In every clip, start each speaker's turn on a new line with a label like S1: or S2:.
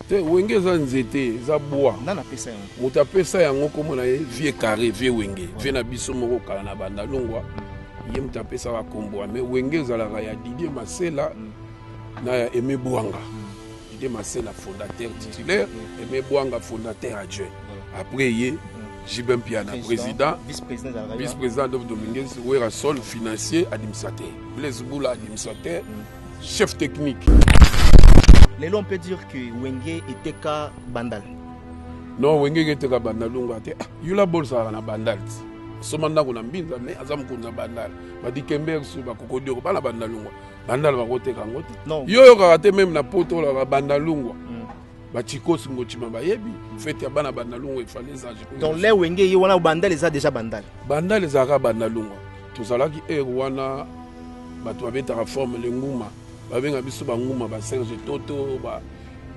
S1: Te wenge eza nzete eza bwa. Nani apesa yango? Moto
S2: apesa yango
S1: kombo na ye vieux carre vieux wenge vieux na biso moko kala na banda longwa ye moto apesaka kombo wana mais wenge ezalaka ya Didier Masela na ya Aimé Bwanga Didier Masela fondateur titulaire Aimé Bwanga fondateur adjoint après ye JB Mpiana président vice-président Adolphe Dominguez Werrason financier administrateur Blaise Bula administrateur chef technique
S2: lelo on peut dire que wenge eteka bandal non
S1: wenge eketeka bandal lunga te ah, yula bolsaka na bandal ti asomba ndako na mbinza me aza mokonzi ya bandal badikember su bakokodioko bana bandalungwa bandal bakoteka yango te yo oyokaka te meme na poto olaka bandalungwa mm. ba chikos ngochima bayebi fete ya bana bandalungwa efali ezage donc le wenge ye
S2: wana bandal eza deja bandal bandal ezalaka
S1: bandalungwa tozalaki ere wana bato babetaka forme lenguma babenga biso banguma ba serge toto ba,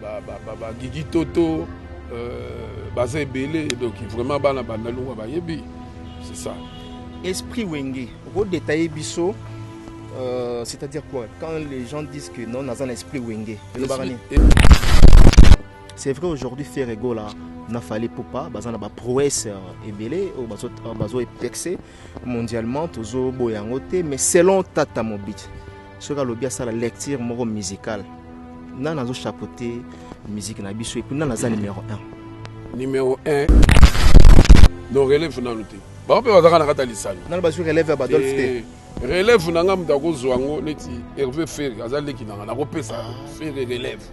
S1: ba, ba, ba, ba gigi toto euh, baza ebele donc vraiment bana bandalungwa bayebi c'est ça esprit
S2: wenge okodetaille biso euh, c'est-à-dire quoi quand les gens disent que non naza na esprit wenge elobaka nini c'est vrai aujourd'hui faire ego là na fali pupa baza na baprouesse euh, ebele oyo euh, bazoepexe mondialement tozoboya yango te mais selon tata mobiti soki alobi asala lecture moko musicale nani nazo chapeauter musique na biso epuis nani aza numéro 1 numéro
S1: 1 no relève nanu te bango mpe bazalaka na kati ya lisano nani bazwi relève ya badolf
S2: te eh. Relève na nga
S1: moto akozwa yango neti Hervé Ferre aza leki na nga nakopesa ah. Ferre relève.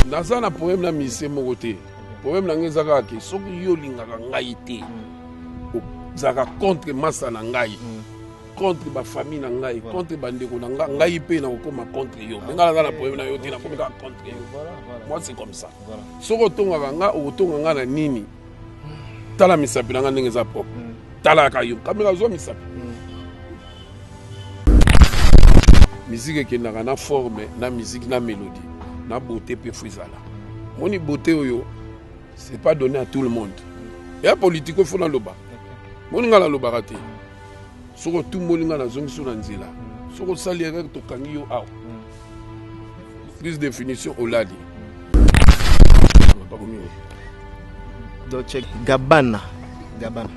S1: Naza na problème na musicien moko te. Problème na nga eza kaka ke soki yo olingaka ngai te hmm. ozalaka contre masa na ngai. Mm. contre bafamille na ngai contre bandeko na ngai ngai mpe nakokoma contre yo me ngai naza na problème na yo te nakomi kaka contre yo moi c'est comme ça soki otongaka ngai okotonga ngai na nini tala misapi na nga ndenge eza propre mm. talaka yo kamera azwa misapi mm. miziki ekendaka na forme na miziki na melodi na beauté mpe fo ezala moni beauté oyo c'est pas donné à tout le monde ya politike ofo naloba moni ngai nalobaka te soki otumboli ngai nazongisi yo na nzela soki osali erreur tokangi yo awa Plus de finition olali.
S2: Dolce Gabbana. Gabbana.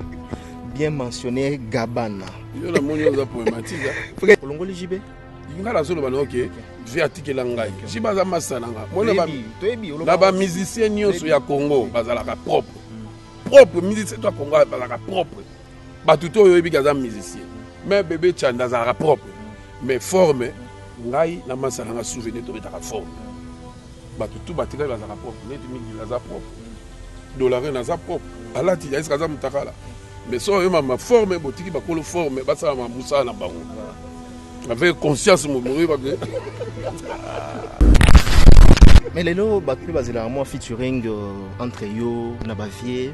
S2: Bien mentionné Gabbana. Yo na moni oza
S1: poématique. Hein. Olongoli JB?
S2: Nga na zolo bana
S1: okay. vie atikela ngai si baza masa na ngai na bamusicien nyonso ya congo bazalaka propre propre musicien to ya congo bazalaka propre batu to oyebi ke aza musicien mais bebe chanda azalaka propre mais forme ngai na masa na nga souvenir tobetaka forme bato tu batikali bazalaka propre neti migil aza propre dolarine aza propre alati yaiske aza motakala mais so oyo mama forme botiki bakolo forme basala ma mosala na bango avec conscience momoyi bake
S2: mais lelo bato mpe bazelaka mwa featuring euh, entre yo na bavie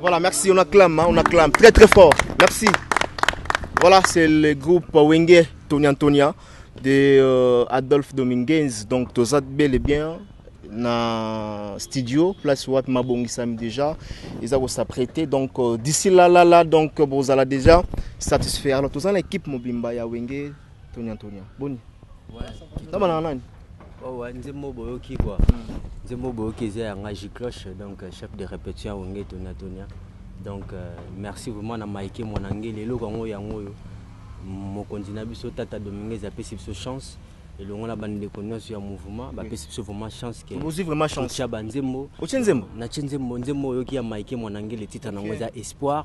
S2: Voilà, merci, on acclame, hein, on acclame très très fort. Merci. Voilà, c'est le groupe Wenge Tony Antonia de euh, Adolphe Dominguez. Donc, Tozat bel et bien na studio place wapi mabongisami déjà eza kosaprete donc euh, d'ici là là là donc bozala déjà satisfaire alors toza na équipe mobimba ya wenge Tonya Tonya. Boni? Ouais.
S3: Taba na nani?
S2: Oh ouais, nzembo
S3: boyoki quoi. Hmm. Nzembo boyoki eza ya Ngaji Cloche donc euh, chef de répétition ya Wenge Tonya Tonya. Donc euh, merci vraiment na Mike Mwanangeli eloko yango yango oyo mokonzi na biso Tata Dominguez apesi biso chance elongo na bandeko nyonso ya mouvement bapesi biso vraiment chance ozwi vraiment chanceotya
S2: banzembo otye
S3: nzembo natye nzembo nzembo oyoki ya mike mwanangeli titre nango eza espoir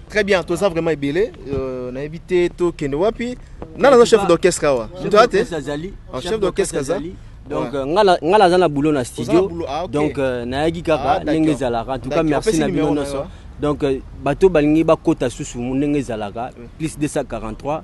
S3: Très bien, toza vraiment
S2: ebele, euh, na évité to kende wapi. Na na chef d'orchestre awa. Mutu ate? Chef d'orchestre aza. Donc euh, nga
S3: nga naza na boulot na studio. Ah, donc euh, nayaki kaka ah, ndenge ezalaka. En tout cas merci na bino nyonso. Donc bato balingi bakota susu ndenge ezalaka plus 243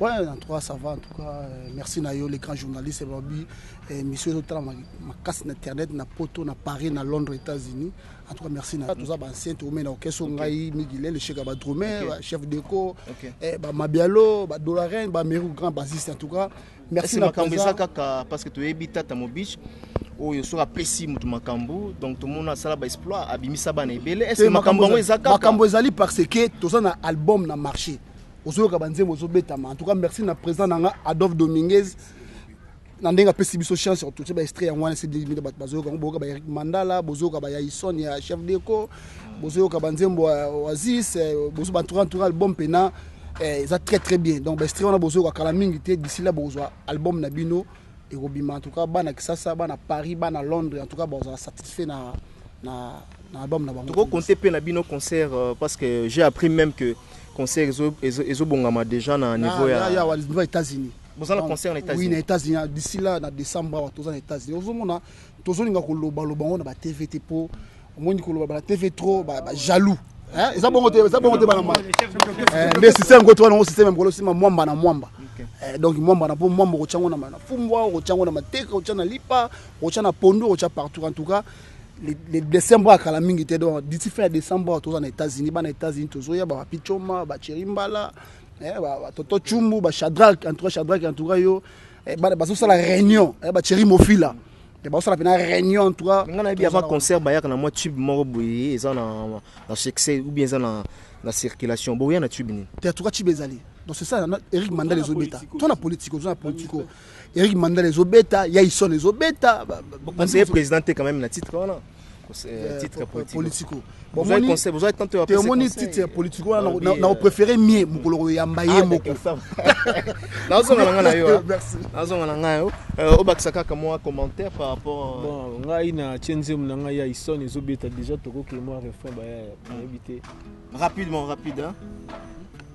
S2: Ouais, en tout cas,
S4: ça va. En tout cas, euh, merci Nayo, les grands journalistes. Babi, euh, monsieur Zotala, ma, ma casse d'internet, na Poto, na Paris, na Londres, États-Unis. En tout cas, merci Nayo. Tout ça, bah, c'est tout, mais na Okeso, Ngaï, Miguel, le Chega, bah, Dromé, bah, chef d'éco, Ok. eh, bah, Mabialo, bah, Dolarin, bah, Mérou, grand bassiste. En tout cas, merci Esi na makambo eza Kaza. kaka
S2: parce que toyebi tata mobiche oyo soki apesi moto makambo donc tomona asala baexploit abimisa bana ebele Te, ese makambo yango eza kaka makambo ezali parce
S4: que toza na album na marché ozoyoka banzembo ozobetama en tout cas merci na président na nga adolphe dominguez na ndenge apesi biso chance ya kototie baestre yango wana sedimina bato bazoyoka yango boyoka baeric mandala bozoyoka bayaison ya chef deco bozoyoka banzembo ya oasis eh, bozo banturantura album mpena eh, eza très très bien donc baestre wana bozoyoka kala mingi te d'ici là bokozwa album na bino ekobima en tout cas bana kisasa bana paris bana londres en tout cas bozala satisfait na, na, na album na bango tokokonte mpe na bino
S2: concert euh, parce que j'ai appris même que Concert ezo ezo ezo bongama deja na niveau ya. Ya ya wa niveau Etats
S4: Unis. Boza na concert na Etats
S2: Unis. Oui na Etats Unis d'ici
S4: là na décembre wa toza na Etats Unis. Ozo mona tozo linga ko loba loba ngo na ba TV te po omoni ko loba ba TV trop ba, ba jaloux. Hein eza bongo te eza bongo te bana mwana. Eh nde système ko toana ngo système mkolo sima mwamba na mwamba. Eh, donc mwamba na po mwamba ko chango na na fumbwa ko chango na mateka ko chana lipa ko chana pondo ko cha partout en tout cas le décembre akala mingi te donc d'ici fin ya décembre toza na états-unis bana états-unis tozoya bapapi coma bacheri mbala eh, batoto chumbu bachadrak entoura chadrak entoura yo eh, bana bazosala réunion eh, bacheri mofila bakosala mpena réunion en tout cas nga nayebi avant concert
S2: bayaka na mwa tube moko boye eza na succès ou bien eza na circulation boya na tube nini te en tout cas tube ezali
S4: donc c'est ça eric mandal ezobeta to na politico oza na politico
S2: Eric
S4: Mandala
S2: ezobeta, Yaison
S4: ezobeta. Vous
S2: conseillez
S4: président
S2: quand même
S4: na titre
S2: wana.
S4: Euh,
S2: euh, titre politico.
S4: Bon, vous avez conseil,
S2: vous avez tenté de passer conseil. titre
S4: politico wana ah na euh, préféré mie mukolo ko yamba ye ah, moko. Na
S2: zo ngana na yo. Hein. Merci. Na zo ngana nga yo. Obakisa kaka moi commentaire par rapport Bon, ngai na
S5: chenze mu nga ya Ison ezobeta déjà toko ke moi refrain ba ya éviter. Rapidement,
S2: rapide hein.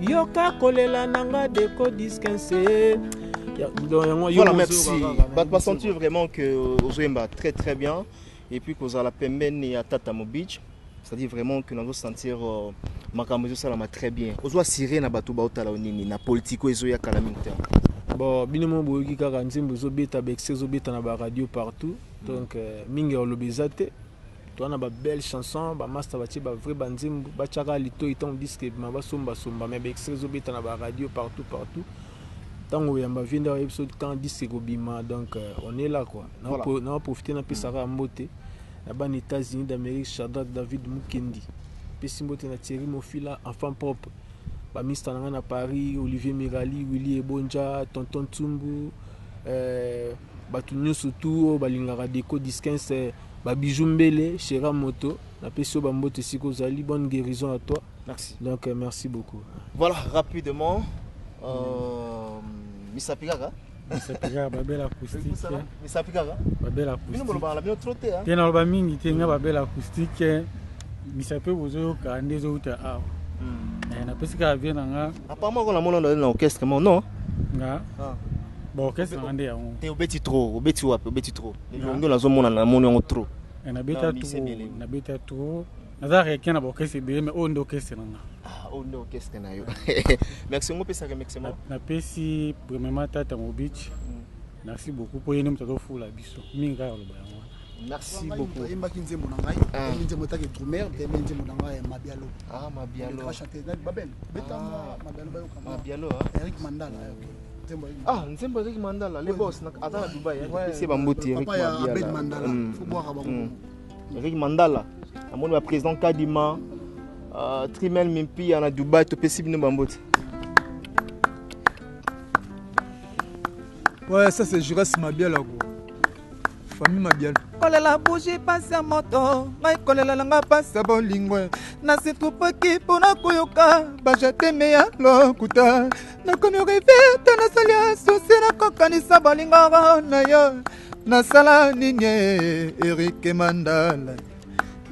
S5: yoka kolela na nga deko diskense
S2: voilà merci bato basentir vraiment que ozoyemba très très bien et puis kozala pembeni ya tata mobich c'est-à-dire vraiment que nazo sentir euh, makambo ezosalama très bien ozo assire na bato baotala yo nini na politiko ezoya kala mingi te bon bino
S5: mo boyoki kaka nzembo ezobeta bexe ezobeta na baradio partout donc euh, mingi ya oloba eza te Toza na ba belle chanson ba masta batie ba vrai ba nzembo ba tiaka litoyi tango disque ebima ba somba somba mais ba extrait ezo beta na ba radio partout partout tango yamba vie nda yebiso quand disque ekobima donc euh, on est là quoi na voilà. na profiter na pesa kaka mbote na bana États-Unis d'Amérique Shadrach David Mukendi pesi mbote na Thierry Mofila enfant propre ba mista na nga na Paris Olivier Mirali Willy Ebonja Tonton Tsumbu euh, bato nyonso tu oyo balingaka deco disquense euh, Ba bijoux mbele chera moto na pesi yo ba mbote esika ozali bonne guerison à toi merci donc euh,
S2: merci
S5: beaucoup voilà rapidement
S2: euh, mm. misapi kaka misapikaka babele
S6: acoustique misapikaka
S2: babele
S6: acoustique
S2: te naloba mingi te nga
S6: babele acoustique misapi bozoyoka nde ezowuta awa hmm. eh, napesi kaka vie na nga apparemment ko namona ndali
S2: na orchestre mo non nga ah.
S6: ba orchestre na nga nde yango te obeti trop obeti
S2: wapi obeti trop Elongi nazo mona na moni yango trop. Eh, na beta trop,
S6: na beta trop. Naza requin na bokese bele mais oyo nde okese na nga. Ah, oyo nde okese
S2: na yo. Merci ngo pesa ke merci mo. Na pesi
S6: premièrement tata mo beach. Mm. Merci beaucoup pour yene mutato fula biso. Mingi kaka loba yango. Merci beaucoup.
S2: Oyembaki nzembo na ngai,
S4: ah. oyebi nzembo etaki Trumer, mpe oyebi nzembo na ngai Mabialo. Ah, Mabialo.
S2: Chanter na Babel.
S4: Beta ah. Mabialo bayoka. Mabialo. Eric
S2: Mandala. Okay.
S4: Ah,
S2: nzembo ezaki mandala, les boss na ata na Dubai, c'est bambuti Eric Mandala.
S4: Faut boire à bango. Eric
S2: Mandala. Amoni ba président Kadima, euh, Trimel Mimpi na Dubai to pesi bino bambuti.
S7: Ouais, ça c'est Juras Mabiala quoi. Famille Mabiala. kolela buji
S8: pasi ya moto ngai kolela na ngai pasi ya bolingo nasitrupaki mpo na koyoka bajateme ya lokuta nakomi rive te nasali asusi nakokanisa bolingo na yo nasala nini erike mandala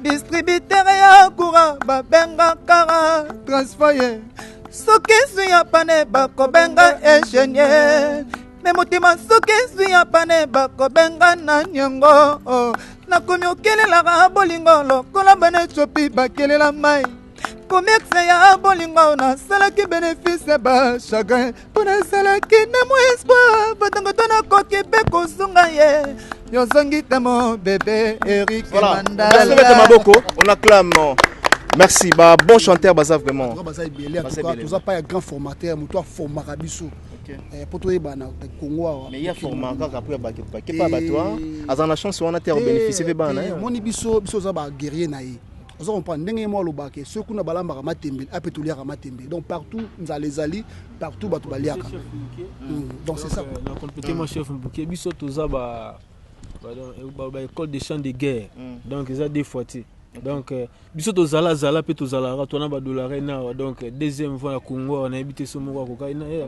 S8: distributere ya kura babengaka transfoye soki ezwi ya pane bakobenga ingenieur me motima soki ezwi ya pane bakobenga na niongo oh. nakomi okelelaka bolingo lokola bana etiopi bakelela mai komerse ya bolingo nasalaki benefise ba chagrin mpo nasalaki na mwa espoir batango to nakoki mpe kosunga ye yozongi te mo bebe erik mandala maboko
S2: on acclame merci ba bon chanteur baza vraiment baza ebele
S4: toza pa ya grand formateur moto aformaka biso Eh, mpo toyebana kongo awa mais ya forma kaka
S2: mpo ya bakepake mpa bato aza na chance wana te akobénéficie mpe bana omoni biso biso oza
S4: baguerrier na ye ozo comprendre ndenge ye moko alobaka ke soki kuna balambaka matembele ape ah, toliaka matembele donc partout nzala ezali partout bato baliaka hmm, donc c'est ça euh, na complete moi chef
S5: mbuke biso toza ba baécole euh, de champ de guerre hmm. donc eza deux fois te donc euh, biso tozala zala mpe tozalaka twana badolare nawa donc deuxième fois ya congo nayebi te so moko akokai na ye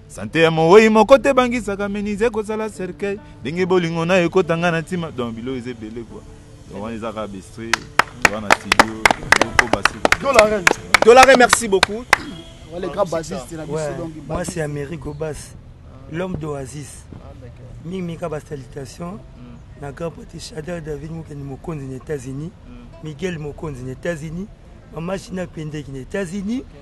S9: Sante ya mowei moko te bangisaka menise ekosala cercueil ndenge bolingo nayo ekota nga na ntima donc biloko eza ebele kua donc wana ezaka bestre wana studio oko basi dolare
S2: dolare merci beaucoup wale grand
S4: bassiste na biso donc mwasi ya
S10: mairie gobas l'homme d'oasis mingi mika ba salutation na grand pati shader david mokeni mokonzi na états-unis miguel mokonzi na états-unis mama china pendeki na états-unis okay.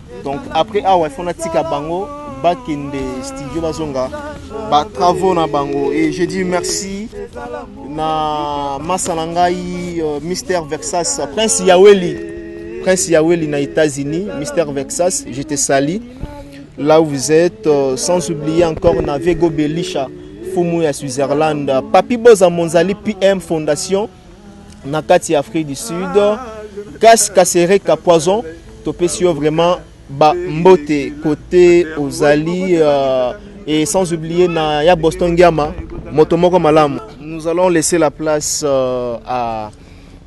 S2: donc après awa il faut natika bango bakende studio bazonga batravaux na bango et je dis merci na masa na ngai euh, mister vexas prince yaweli prince yaweli na états-unis mister vexas je te sali là où vous êtes euh, sans oublier encore na vego belisha fumu ya switzerland papi boza monzali pm fondation na kati ya Afrique du Sud Kas Kasereka Poison topesi yo vraiment ba mbote kote ozali euh, et sans oublier na ya Boston Giama moto moko malamu nous allons laisser la place euh, à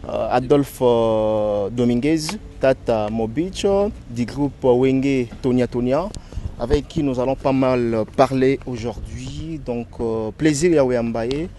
S2: euh, Adolphe euh, Dominguez Tata Mobicho du groupe Wenge Tonia Tonia avec qui nous allons pas mal parler aujourd'hui donc euh, plaisir ya Wembaye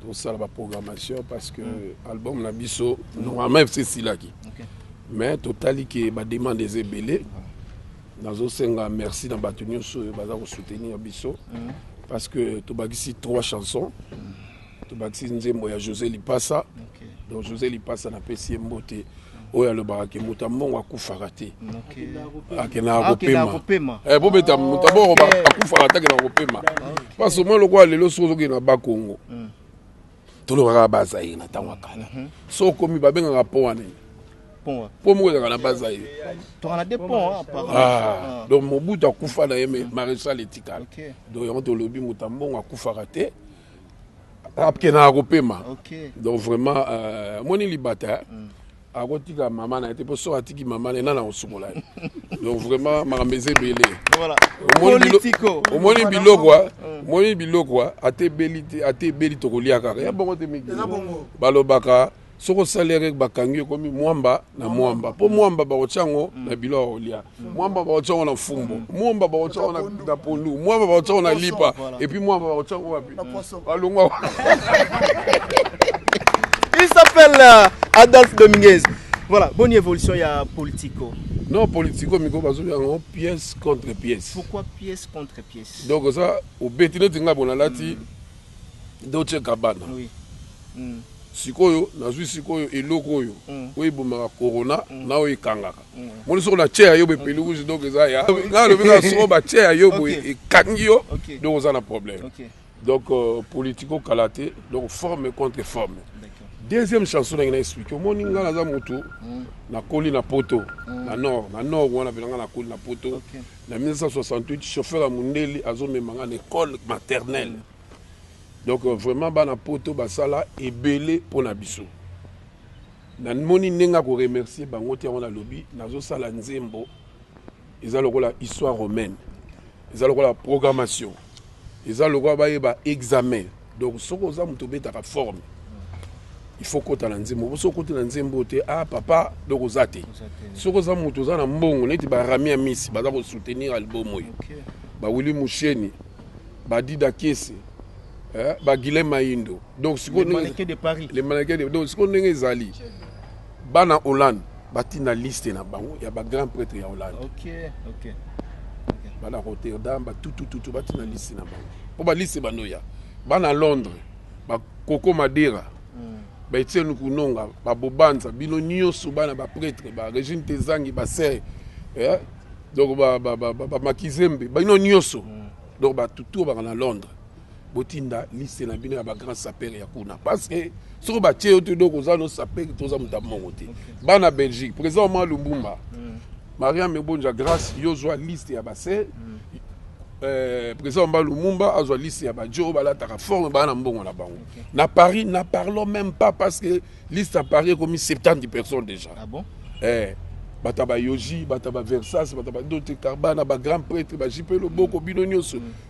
S1: tosala ba programmation parce que mm. album na biso normalement fc esilaki okay. mais totali ke bademande eza ebele nazosenga merci na bato nyonso oyo baza kosoutenir biso mm. parce que tobakisi trois chansons mm. tobakisi nzembo ya josé lipasa okay. donc josé lipasa napesi ye mbote oyo alobaka ke moto ya mbongo akufaka te akendaka ah, kopema eh, bobeta moto ya mbongo akufaka te akendaka kopema parce omoi lokola lelo soki ozokende na bakongo hmm. tolobaka bazaire na ntango ya kala mhm. so okomi babengaka mpo wana mpo moko ezalaka na bazaire
S2: ah, donc mobutu akufa
S1: na ye maréchal etikala donc yango tolobi moto ya mbongo akufaka te akendaka kopema okay. donc vraiment euh, amoni libata mm. akotika mama na ye te mpo soki atiki mama na ye nani akosukola ye donc vraiment makambo eza ebele omoni biloko ah? mm. omoni biloko ah? ata ebeli te ata ebeli tokolia kaka ya bongo te miki balobaka soki osali ekeke bakangi yo ekomi mwamba na mwamba mpo mwamba bakotya yango na bilo ya kolia mwamba bakotya yango na fumbo mwamba bakotya yango na pondu mwamba bakotya yango na lipa epuis mwamba bakotya yango wapi balongwa
S2: il s'appelle euh, adolphe dominguez voilà bonne évolution ya politico non politico
S1: miko bazobi yango pièce contre pièce pourquoi pièce contre
S2: pièce donc oza obeti
S1: neti ngai bona lati mm. Dolce Gabbana
S2: oui. mm.
S1: sikoyo nazwi sikoyo eloko oyo mm. oyo ebomaka corona mm. na oyo ekangaka mm. moni soko na tia yo bepeli rouge donc eza ya nalobi kaka soko batia ya yo boye ekangi yo donc oza na problème donc euh, politico kala te donc forme contre forme deuxième chanson nange na explike omoni ngai naza motu mm. nakoli na poto mm. na nord na nord wana mpe na ngai nakoli na poto Na 1968 chauffeur ya mundeli azo mema nga na ecole maternelle donc euh, vraiment bana poto basala ebele mpo na biso namoni ndenge akoremercie bango te yango nalobi nazosala nzembo eza lokola histoire romaine eza lokola programmation Eza lokola bayeba examen. Donc soki oza moto obetaka forme, il faut kota na nzembo. Soki okoti na nzembo te, ah papa, donc oza te. Soki oza moto oza na mbongo, neti ba Rami Amisi baza ko soutenir album oyo. Ba Willy Musheni, ba Dida Kiese, eh, ba Guilhem Mayindo. Donc sikoyo les mannequins de Paris. Les
S2: mannequins de donc sikoyo
S1: ndenge ezali. Bana Hollande batinda liste na bango ya ba grand pretre ya Hollande. Okay, okay. Okay. Bana Rotterdam ba tutu tutu batinda liste na bango. Po ba liste bando ya bana Londres, ba Koko Madera, mm. ba Etienne Kunonga, ba Bobanza, bino nyoso bana ba pretre, ba Regine Tezangi, ba Serre. Eh? Donc ba ba ba, ba, ba Makizembe, bino nyoso. Mm. Donc ba tutu bana Londres. botinda liste na bino ya ba grand sapeur ya kuna parce que soki batie yo te donc oza no sapeur to oza moto ya mongo te bana belgique président omar lumbumba mm. mariam ebonja grâce yo ozwa liste ya baser mm. euh, président omar lumumba azwa liste ya bajo oyo balataka forme baa na mbongo na bango okay. na paris na parlons même pas parce que liste ya paris ekomi 70 personnes déjà ah bon? eh,
S2: bato
S1: ya bayoji bato ya baversas bato ya badote carbana bagrand prêtre bajipe loboko mm. bino nyonso mm.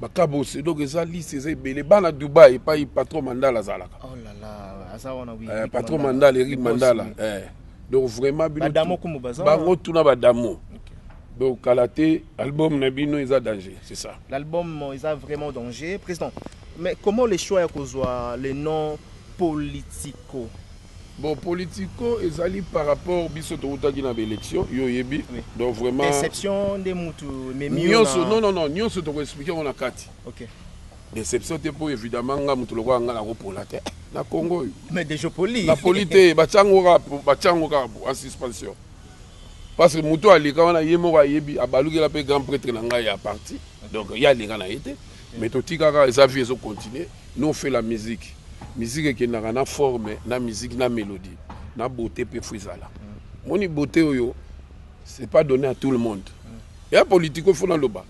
S1: bakabose donc eza liste eza ebele bana dubai epai patron mandala azalaka oh là là
S2: aza wana oui eh, patron mandala eric
S1: mandala eh donc vraiment bino badamo kumu baza bango
S2: tuna badamo
S1: donc kala te album na bino eza danger c'est ça l'album eza
S2: vraiment danger président mais comment les choix ya kozwa le nom politico Bon
S1: politico ezali par rapport biso towutaki na ba election yo oyebi donc vraiment deception nde mutu
S2: ememi yo nionso non non non
S1: nionso toko expliquer yango na kati okay
S2: deception te
S1: po evidemment nga mutu lokola nga nako pola te na Congo oyo mais dejo poli
S2: na poli te batiango
S1: kaka batiango kaka en suspension parce que mutu aleka wana ye moko ayebi abalukela pe grand pretre na ngai ya parti donc ye aleka na ye te Mais totika kaka eza vie ezo continuer nous on fait la musique musique ekendaka na forme na musique na melodie na beauté pe faut ezala moni beauté oyo c'est pas donné à tout le monde ya politico faut naloba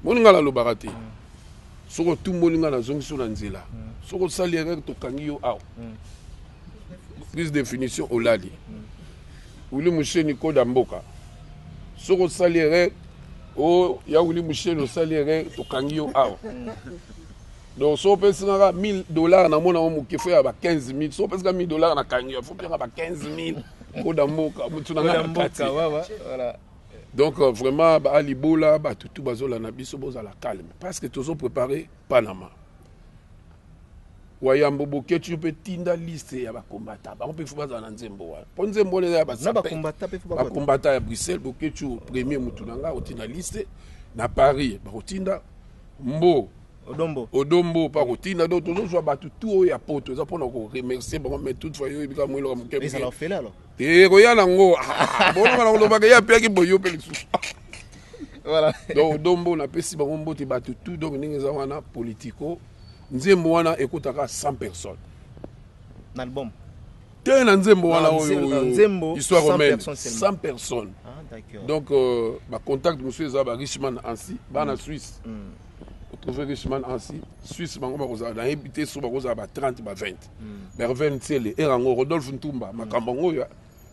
S1: moni nga nalobaka te soki otumboli nga nazongisi yo na nzela soki osali erreur tokangi yo awa plus définition olali wili musheni koda mboka soki osali erreur o oh, ya wili mushele osali erreur tokangi yo awa donc so opesi nga 1000 dollars namona yango moke fo ya ba 15 000 so opesi nga 1000 dollars nakangi yo fo mpe nga ba 15 000 koda mboka motu na nga kati
S2: donc euh,
S1: vraiment baalibola bato tu bazolanda biso bozala calme parce que tozo préparer Panama. Wayambo Boketshu mpe tinda liste ya bakombata bango mpe fo bazala na nzembo wana mpo nzembo wana eza ya
S2: bakombata ya Bruxelles
S1: Boketshu premier motu na ngai akotinda liste na Paris bakotinda mbo odombo odombo mpe akotinda donc tozozwa bato tu oyo ya poto eza mpona koremercie bango mais toutefois yo oyebika mweloka moke
S2: Eh, koya na ngo ah,
S1: bolonga na koloba ke ya piaki boye yo mpe lisusu voilà.
S2: donc dombo
S1: napesi bango mbote bato tout donc ndenge eza wana politico nzembo wana ekotaka 100 personnes na
S2: album te
S1: na nzembo wana oyo histoire
S2: romaine 100
S1: personnes ah, donc
S2: euh,
S1: bacontact mosusu eza ba richman ansi bana mm. suisse mm. otrouve richman ansi suisse bango bakozala nayebi te so bakozala ba 30 ba 20 Merveille Ntsele, era yango Rodolphe Ntumba, makambo yango oyo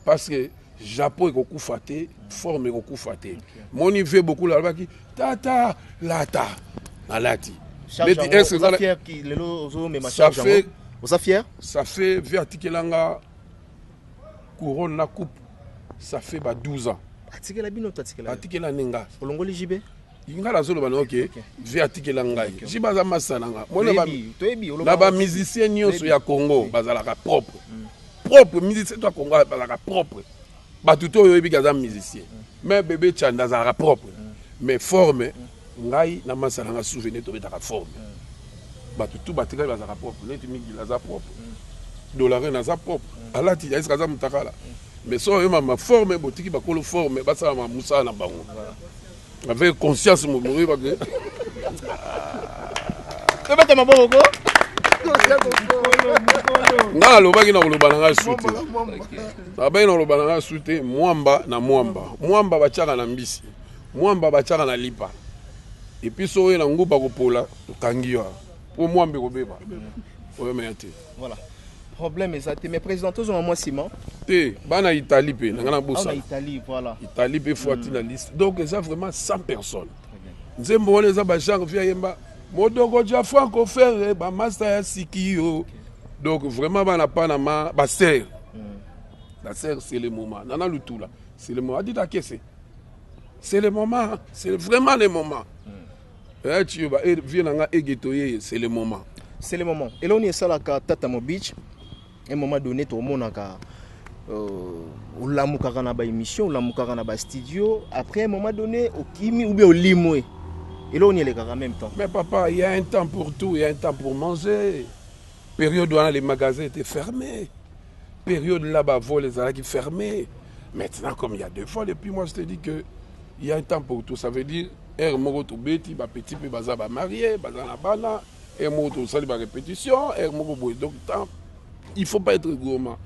S1: parce que Japon ekokufa te, forme ekokufa te. Moni vie beaucoup alobaki tata lata nalati. Beti
S2: est-ce que ça fier qui lelo ozo mema charge Ça fait oza fier? Ça fait vie
S1: atikelanga couronne na coupe ça fait ba 12 ans. Atikela bino to atikela?
S2: Atikela ninga.
S1: Olongoli JB?
S2: ngai nazoloba na yo
S1: ke vie atikela ngai ji baza masa na nga na bamusicien nyonso ya congo bazalaka propre mm. propre musicien to ya congo bazalaka propre bato to oyo oyebiki aza musicien mais mm. bebe chanda azalaka propre mm. mais forme ngai na masa na nga souvenir tobetaka forme bato tu batikali bazalaka propre neti migila aza propre dolarine aza propre alati aeske aza motakala mais so oyemama forme botiki bakolo forme basalama mosala na bango Avec conscience mon bourré parce que
S2: Pe bata maboko ko.
S1: Nga alobaki na koloba na ngai sute. Abaki na koloba na ngai sute mwamba na mwamba. Mwamba batiaka na mbisi. Mwamba batiaka na lipa. Et puis so oye na nguba kopola okangi yo. Po mwamba ekobeba. Oyo meya te. Voilà.
S2: Problème eza te mais président tozonga mwa nsima te bana
S1: italie mpe na ngai nabosana italie voilà
S2: italie mpe fuati mm. na
S1: liste donc eza vraiment 100 personnes nzembo wana eza bagenre vi ayemba modoko ja franco ferre bamasta ya siki yo donc vraiment bana panama basere mm. la sere c'est le moment nana lutula c'est le moment adita kese c'est le moment c'est vraiment le moment mm. Eh, Chiyoba, eh, vieux na nga Ege Toyeye, c'est le moment. C'est le moment.
S2: Eloko nini esalaka Tata Mobich un moment donné tokomonaka euh, olamukaka na baémission olamukaka na bastudio après un moment donné okimi ou bien olimwe eloko nini elekaka en même temps Mais papa, il y a un
S1: temps pour tout, il y a un temps pour manger. Periode wana les magasins etait ferme periode la ba vol ezalaki ferme maintenant comme il ya deux vol et puis moi je te dis que il ya un temps pour tout ça veut dire heure moko tobeti ba petit mpe baza ba marie baza na bana heure moko tosali ba répétition heure moko boye donc temps il faut pas être gourmand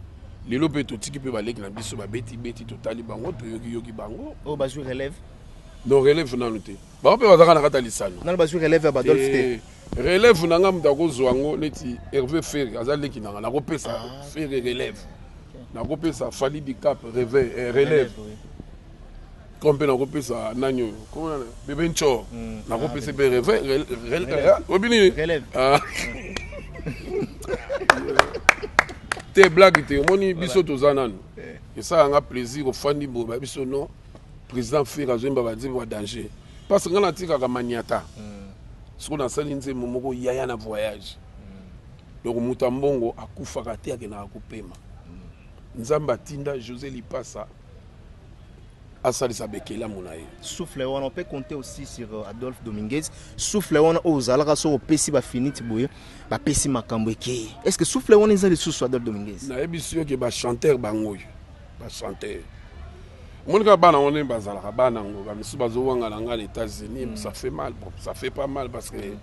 S1: lelo mpe totiki mpe baleki na biso babeti beti totali bango toyokiyoki bango oyo oh, bazwi relève
S2: no relève
S1: nanu te Bango mpe bazalaka na kati ya lisano. Nanu bazwi relève ya Badolphe
S2: te. Eh, relève na nga
S1: moto akozwa yango neti Herve Ferre aza leki na nga nakopesa ah, Ferre relève. Nakopesa Fally Dicap réveil eh, relève. Comme mpe nakopesa nani oyo komona Bebe Nchor hmm. nakopesa ah, mpe réveil ah, oyebi nini te blague te omoni biso toza nanu eh. esalaka nga plaisir ofandi boye babiso non President Ferre azoyemba ba nzembo ya danger parce nga natikaka maniata mm. siko nasali nzembo moko yaya na voyage mm. donc moto ya mbongo akufaka te akendaka kopema mm. nzambe atinda josé lipasa asalisa bekelamu na ye souffle wana ope
S2: compte aussi sur euh, adolphe dominguez souffle wana oyo ozalaka soki opesi bafiniti boye bapesi makambo ekei est ce que souffle wana eza lisusu adolphe dominguez nayebisi yo ke
S1: bachanteur bango oyo ba chanteur omoni kaka bana ngo ndenge bazalaka bana ngo bamisusu bazowanga na ngai na états-unis mm. ça fait mal bon ça fait pas mal parce que mm.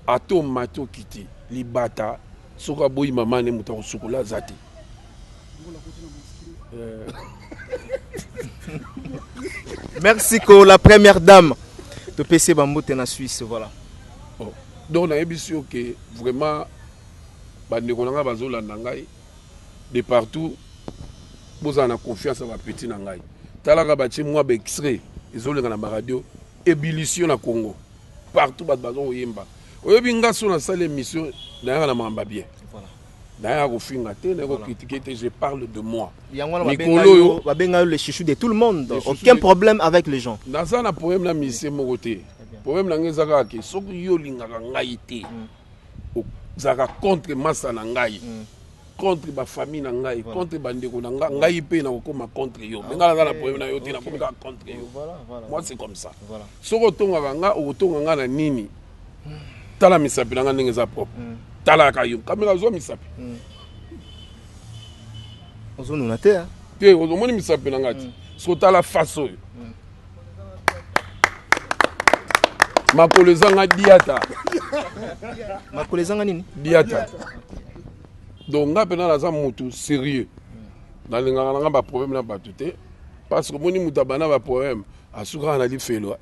S1: ato mati okiti libata soki aboyi mama ne moto akosukola aza te euh.
S2: merci ko la première dame topesi bambote na suisse voilà oh.
S1: donc nayebisi yo ke vraiment bandeko na ngai bazolanda ngai de partout bozala na confiance ya bapeti na ngai talaka batie mwa baextrait ezolenga na baradio ebilisio na congo partout bato baza koyemba oyebi nga so nasali émission nayaka na mamba bien nayaka kofinga te naye kokritike te je parle de moi mikolo oyo
S2: babenga yo le chouchou de tout le monde aucun problème avec les gens naza na problème na
S1: misie moko te problème na ngai eza kaka ke soki yo olingaka ngai te mm. ozalaka contre masa na ngai mm. contre ba famille na ngai voilà. contre ba ndeko na ngai voilà. ngai pe na kokoma contre yo ah, mais ngai naza na problème na yo te okay. na komi kaka contre yo voilà, voilà. moi c'est comme ça voilà. soki otongaka nga okotonga nga na nini hmm. tala misapi na nga ndenge eza propre mm. talaka yo kamela zwa misapi mm.
S2: ozonuna te te ozomoni misapi
S1: na ngai te mm. soki otala face oyo makolo ezanga diata
S2: makolo ezanga nini diata
S1: donc nga mpena naza motu sérieux nalingaka nanga baproblème na bato te parce que omoni moto abanda baproblème asukaka na lifelo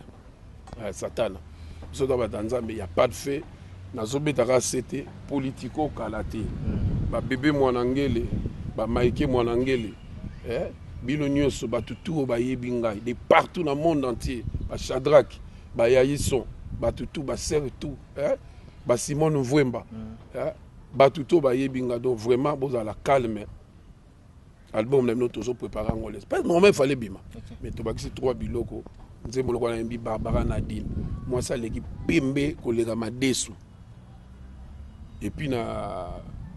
S1: eh, satana biso to bata nzambe ya pas de fait nazobeta kaka sete politico kala te hmm. babebe mwana ngele bamaike mwana ngele eh? bino nyonso bato tu oyo bayebi ngai de partout na monde entier bachadrake bayayison bato tu basere tu eh? basimone mvwemba hmm. eh? bato to bayebi ngai donc vraiment bozala calme album na bino tozo prépare yango les pas normal fallait bima mais tobakisi trois biloko nzembo lokola na yembi barbara nadine mwasi aleki pembe koleka madesu epuis na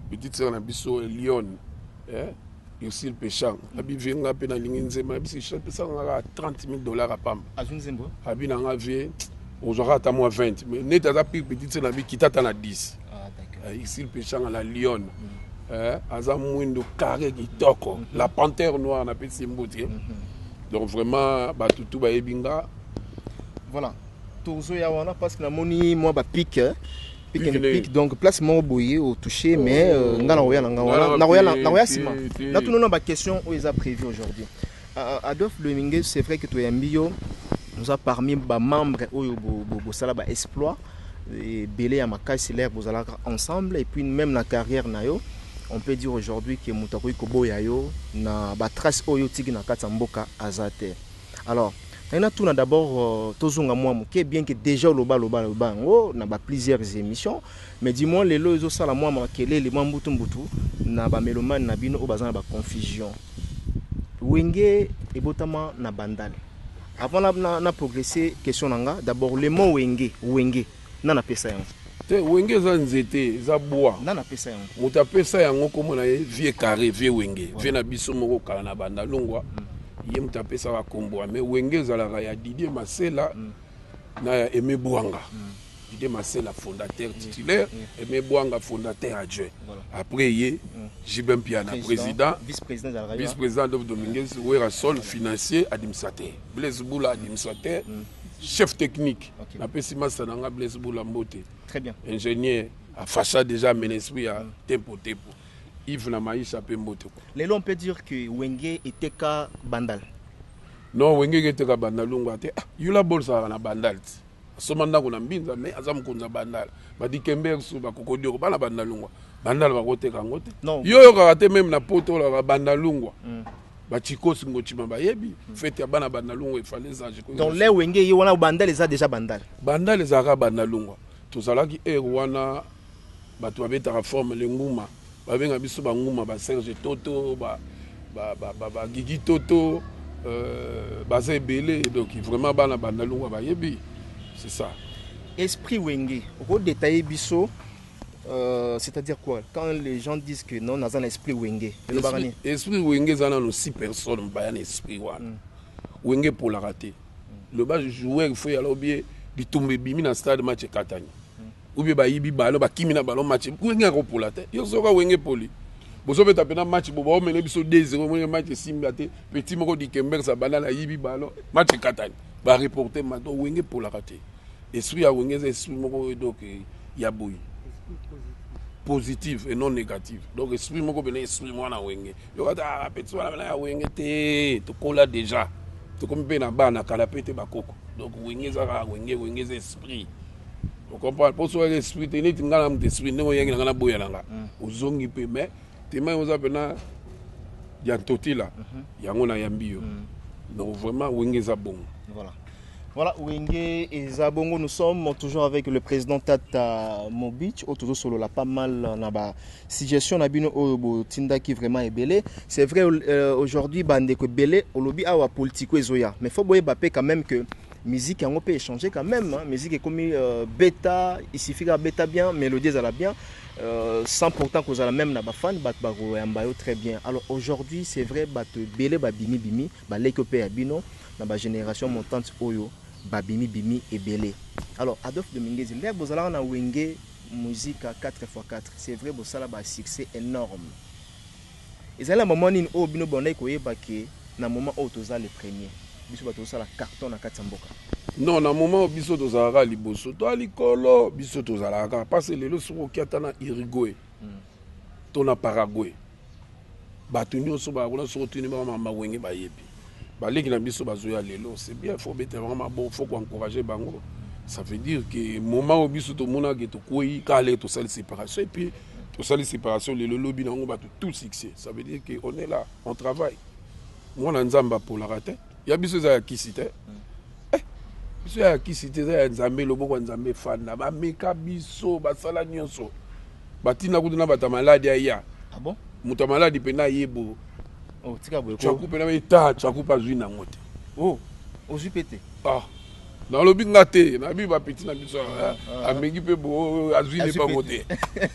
S1: petite sœur na biso elione eh? ursile pechang abive nga mpe nalingi nzembo na biso pesaka nga kaka 30 000 dollars apamba abi
S2: na nga vie
S1: ozwaka ata mwa 20 mais neti aza pire petite sœur na bi kita ata na 10 ah, isil pechanga la lionne mm. eh, aza mwindo carré kitoko mm-hmm. la panthère noire napesi mbuti eh. mm-hmm. donc vraiment bato tu
S2: bayebi
S1: nga voilà
S2: tozoya wana parce que namoni mwa bapike eh. pique and pique donc place moko boye otouche mais euh, nga nakoya na nga wana nakoya nsima natunona baquestion oyo eza prévu aujourd'hui Adolphe Dominguez c'est vrai que toyambi yo oza parmi ba membres oyo bosala ba exploit ebele ya makasi lere bozalaka ensemble et puis même na carrière na yo on peut dire aujourd'hui que moto akoki koboya yo na batrace oyo otiki na kati ya mboka aza te alors naye natuna d'abord euh, tozonga mwa moke bien que déjà olobaloba loba yango na ba plusieurs émissions Mais du moins lelo ezo sala mua makelele mua mbutu mbutu na ba melomane na bino oyo baza na ba confusion. Wenge ebotama na Bandal. Avant na, na, na progresser question na nga, d'abord le mot wenge, wenge, nani apesa yango? Te, wenge eza
S1: nzete, eza bwa. Nani apesa yango? Moto
S2: apesa yango
S1: kombo na ye Vieux Carre, Vieux Wenge. Voilà. Vieux na biso moko kala na Bandal longwa. Mm. Ye moto apesaka kombo mais wenge ezalaka ya Didier Masela mm. na ya Aimé Bwanga. Mm. Didier Masela fondateur titulaire, Aime Bwanga fondateur adjoint. Après ye JB Mpiana president, vice president Adolphe Dominguez, Werrason financier, administrateur, Blaise Bula administrateur, chef technique. Napesi masta na nga Blaise Bula Mbote. Ingénieur afasha deja amena esprit ya tempo tempo. Yves na Maisha mpe Mbote. Lelo on peut dire que
S2: Wenge eteka Bandal. Non,
S1: Wenge eteka Bandal longo ate. Ah, Yula Bol salaka na Bandal ti. Asomba ndako na Mbinza mais aza mokonzi ya Bandal. Ba Dikembersu, ba Kokodioko, bana Bandalungwa. Bandal bakoteka yango te. Non. Yo oyokaka te meme na poto olaka Bandalungwa. Mm. Ba Chikos Ngochima bayebi mm. fete ya bana Bandalungwa efale sage. Donc le wenge ye
S2: wana Bandal eza déjà Bandal. Bandal ezalaka
S1: Bandalungwa. Tozalaki heure wana bato babetaka forme lenguma. Ba benga biso ba nguma ba Serge Toto ba ba ba ba, ba Gigi Toto euh, baza ebele donc vraiment bana bandalungwa bayebi c'est ça. Esprit
S2: Wenge, oko detailler biso euh, c'est-à-dire quoi quand les gens disent que non naza na esprit Wenge. Elobaka Esprit, nini? esprit
S1: Wenge eza nano si personne baya na esprit wana. Mm. Wenge polaka te. Mm. Loba joueur il faut yala obie bitumba ebimi na stade match ekatani. ou bien bayibi ballon bakimi na ballon match wenge akopola te yo soka wenge epoli bozobeta mpena match bo baomele biso 2-0 wenge match esimba te petit moko dikembers abanda na yibi ballon match ekatani bareporte ma donc wenge epolaka te esprit ya wenge eza esprit moko donc ya boye positive et non négative donc esprit moko mpena esprit mwana wenge yokata ah, petit wana mpena ya wenge te tokola déjà tokomi mpe na bana kala mpe te bakoko donc wenge ezaka wenge wenge eza esprit ocomprendre mpo soki esprit te neti ngai na moto esprit ndenge oyangi na ngai naboya na nga mm. ozongi mpe mais tema oza mpena ya ntotila mhm. yango nayambi yo mm. donc vraiment wenge eza bongo voilà Voilà,
S2: Wenge et Zabongo, nous sommes toujours avec le président Tata Mobich. Au tout solo, pas mal naba suggestion nabino oyobo tinda qui vraiment est belé. C'est vrai euh, aujourd'hui bande que belé au lobby awa politico ezoya. Mais faut boyer bapé quand même que Musique yango pe echanger quand même, musique ekomi euh, beta, il suffit ka beta bien, melodie ezala bien, euh, sans pourtant kozala même na ba fans bat ba koyamba yo très bien. Alors aujourd'hui, c'est vrai bato ebele ba bimi bimi, ba leki ope ya bino na ba génération montante oyo ba bimi bimi ebele. Alors Adolphe Dominguez, nde bozalaka na Wenge Musica 4x4, c'est vrai bosala ba succès énorme. Ezali na moment nini oyo bino bobandaki koyeba que na moment oyo toza les premiers? Biso batu tozosala carton na kati ya mboka. Non na moment
S1: oyo biso tozalaka kaka liboso toa likolo biso tozalaka kaka parce lelo soki oki ata na Uruguay to na Paraguay batu nionso baya kuna soki otuni bango mama wenge bayebi. baleki na biso bazoya lelo c'est bien faut beta bango maboko faut koencourage bango ça veut dire que moment oyo biso tomonaki tokwei kale tosali séparation et puis tosali séparation lelo lobi na yango bato tout succès ça veut dire que on est là on travaille mwana nzambe apolaka te ya biso eza ya kisi te eh, biso ya kisi te eza ya nzambe loboko ya nzambe efanda bameka biso basala nyonso batina kutu na bato ya maladi aya ah moto ya
S2: maladi mpe na
S1: yebo Oh, tika
S2: boye. Chaku pena me ta
S1: chaku pa zui na ngote. Oh,
S2: ozui pete. Ah.
S1: Na lobi nga te, na bi ba petit na biso. Ah, ah. Amengi pe bo azui ne bango te.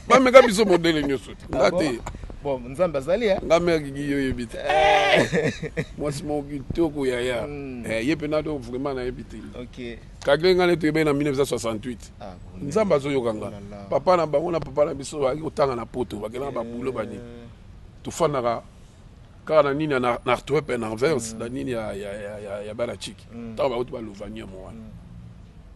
S1: Ba meka biso modele nyoso. Ah nga te. Bon, nzambe
S2: azali ya. Eh? Nga mère gigi yo yebi te.
S1: Eh. Moi c'est mon kitoko yaya. Hmm. Eh, ye pena do vraiment na yebi te. OK. Kagre
S2: nga ne to yebe
S1: na 1968. Ah, nzambe azoyoka nga. Oh papa na bango na papa na biso ba kotanga na poto, ba kena ba boulot ba nini. Eh. tofandaka kaka na nini na artwep na anvers na nini ya bana chiki ntango mm. bauti balovanium wana mm.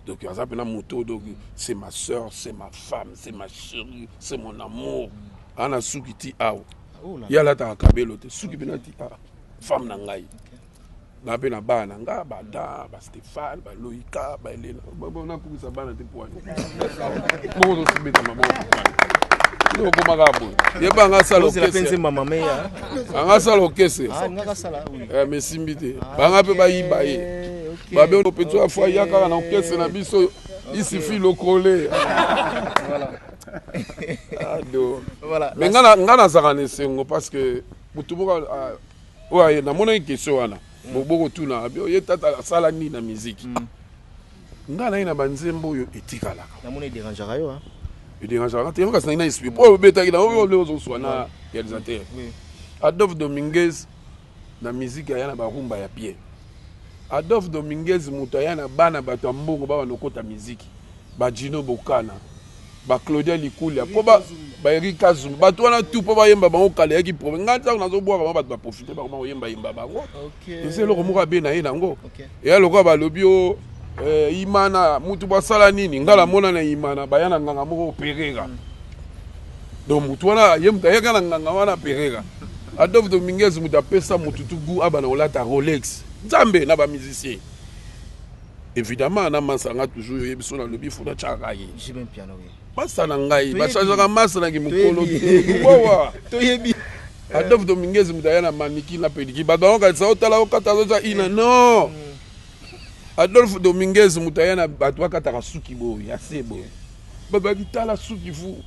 S1: donc aza mpena moto donc c'est ma soeur c'est ma femme c'est ma chérie c'est mon amour mm. ana suki ti awa ah, oh ye alataka kabelo te suki mpena ti awa femme na ngai Nga pe na bana na nga ba Adam, ba Stephane, ba Loïka, ba Helena. Bon na kumisa bana te poani. Bongo zo sibeta maboko poani. Yo koma ka boye. Ye ba nga sala okese. Penze mama me
S2: ya. Nga sala
S1: okese. Ah nga ka sala oui.
S2: Eh mais simbi te.
S1: Ah, ba nga pe ba yiba ye. Ba be pe tu afwa ya kaka na okese na biso. Il suffit le coller. Voilà. Ado.
S2: Voilà. Mais nga na nga na zaka
S1: na esengo parce que mutu moko ah, oyo namonaki question wana boboko tuna ye tata asala nini na miziki mm. ngai naye na banzembo oyo etikalaka namoni ederangeaka
S2: yo ederangeaka te
S1: kasi nai na esprit mpo obetaki na oyo leo ozoswa na réalisateur adolphe dominguez na miziki aya na barumba ya bien Adolphe Dominguez mutu aya na bana batu ya mbongo ba banda kokota miziki ba Djino Bokana ba Claudia Likulia po ba ba Eric Kazumba batu wana tout po ba yemba bango kala eyaki problème nga tango nazo bwaka bango batu ba profiter bango ba koyemba yemba bango eza eloko moko abe na ye nango eya lokola balobi o oh, eh, Imana mutu basala nini nga namona na Imana baya na nganga moko Pereira donc mutu wana ye mutu ayaka na nganga wana Pereira Adolphe Dominguez mutu apesa mutu tu gout abana kolata Rolex nzambe na ba musicien évidemment na masa nga toujours oyebi so nalobi fo natyaka ye
S2: masa na ngai
S1: bachangeaka masa na kimokolo te wawa toyebi Adolphe Dominguez mutu aya na maniki na pediki bato yango kanisa otala okata azoza ina non Adolphe Dominguez mutu aya na bato bakataka suki boye ya se boye bato bakitala suki fou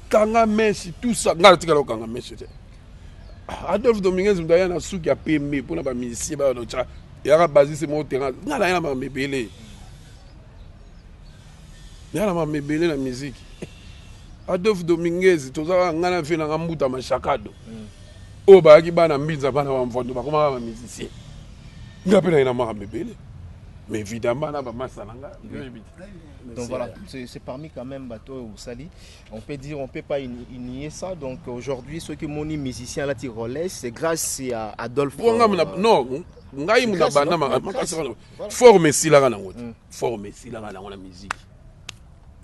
S1: kanga mèche tout ça ngai natikala kokanga mèche te adolphe dominguez moto aya na suki ya pembe mpona bamisie bayonoca yaka basise moko terrain ngai naya na mama ebele naya na mama ebele na miziki adolphe dominguez tozalaka ngai na vie nanga mbuta mashakado mm. oyo bayaki bana mbinza bana bamvondo bakomaka bamizisie ngai mpe naye na mama ebele mais évidemment na bamasa na ngai
S2: Donc voilà, c'est parmi quand même bateau au Sali. On peut dire, on peut pas nier ça. Donc aujourd'hui, ceux qui m'ont dit musicien là, Rolex, c'est grâce à Adolphe. Euh, non,
S1: ngai muna bana makasi forme esilaka nango te forme esilaka nango na musique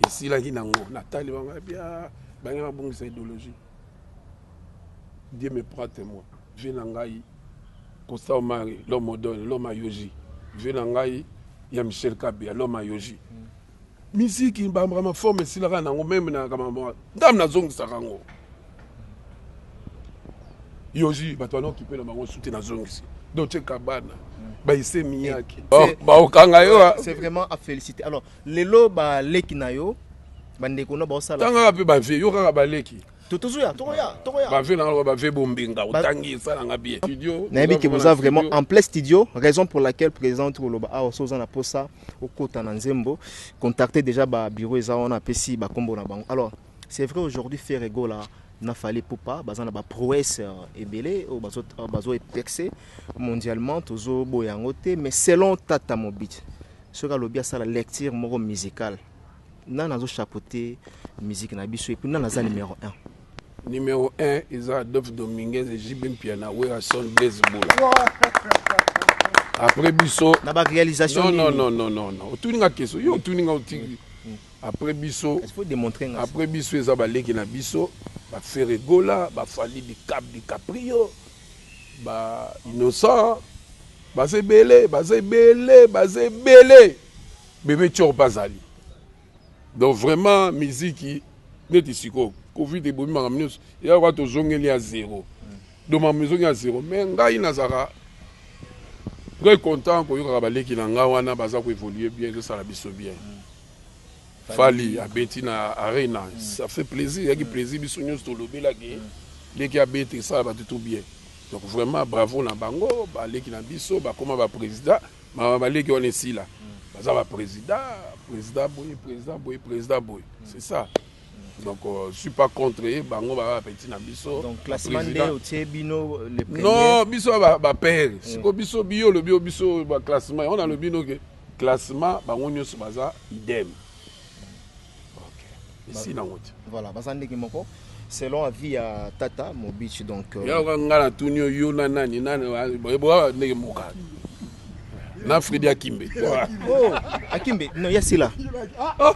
S1: esilaki nango natali bango bia bange babongisa idéologie Dieu me prend temoin vie na ngai Costa Omari l'homme odole l'homme à Yoji vie na ngai ya Michel Kabia l'homme à Yoji mm. miziki mbambaka maforme esilaka nango meme na kamama ndam nazongisaka yango yoji bato wana okipe na bango suki nazongisi doce kabana mm. baise miyaki baokanga yo c'est vraiment à féliciter
S2: alors lelo ba leki na yo ba ndeko na ba sala tanga pe ba vie yo kaka
S1: ba leki totozoya tokoya
S2: tokoya ba vie na
S1: nga ba vie bombenga otangi sala nga bien studio na yebi que vous avez vraiment
S2: en plein studio raison pour laquelle président tout loba awa so na posa okota na nzembo contacter déjà ba bureau eza wana pesi ba kombo na bango alors c'est vrai aujourd'hui faire ego là na fallait pour pas baza na ba prouesse euh, ebele au bazo euh, bazo percer mondialement tozo boyango te mais selon tata mobit Soki alobi asala lecture moko musicale, nani azo chapeauter musique na biso et puis nani aza numero 1? Numero 1
S1: eza Adolphe Dominguez et JB Mpiana, Werrason, Blaise Bula. Après biso na ba réalisation non,
S2: non, non, non, non, non.
S1: Otuni nga question, yo otuni nga otuni. Mm. Après biso, il faut démontrer nga. Après
S2: biso eza
S1: baleki na biso, ba Ferregola, ba Fally Bicap, Bicaprio. Ba innocent baza ebele baza ebele baza ebele bebe tshor mpe azali donc vraiment miziki neti sikoyo covid ebomi makambo nyonso eya kwa tozongeli ya zero donc makambo ezongi ya zero mais ngai nazalaka très content koyokaka baleki na ngai wana baza koevolue bien ezosala biso bien Fally abeti na arena mm. ça fait plaisir yaki mm. plaisir biso nyonso tolobela ke mm. leki abeti esala bato tout bien donc vraiment bravo na bango baleki na biso bakoma baprésident mama baleki wana esila baza baprésident président boye président boye président boye c'est ça donc euh, je suis pas contre ye bango baa bapeti na biso
S2: non biso
S1: bapere siko biso biyo olobi yo biso baklassement yango nalobi noke Classement bango nioso baza idem. Okay. Esi na ngote. Voilà, baza ndenge moko.
S2: selon avis ya tata mobichi donc euh, yoka ngai
S1: natuni yo yo na nani nani boyeboa ndenge moka na fredi akimbe oh,
S2: akimbe no ya sila oh.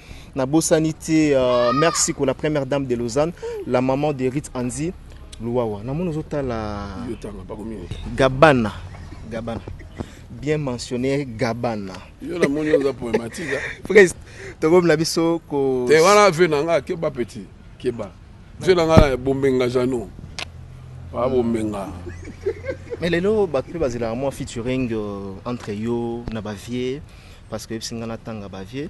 S2: nabosani te uh, merci ko la première dame de lausanne la maman de rit anzi luwawa namoni ozotala gabana gabana bien mentionné gabana yo namoni oza
S1: poematika prest
S2: tokomi na biso ko te wana ve na nga
S1: keba petit keba ve na nga bombenga jano ba bombenga
S2: mais lelo bato mpe bazelaka mwa featuring euh, entre yo na bavie parce que oyebisi ngai natanga bavie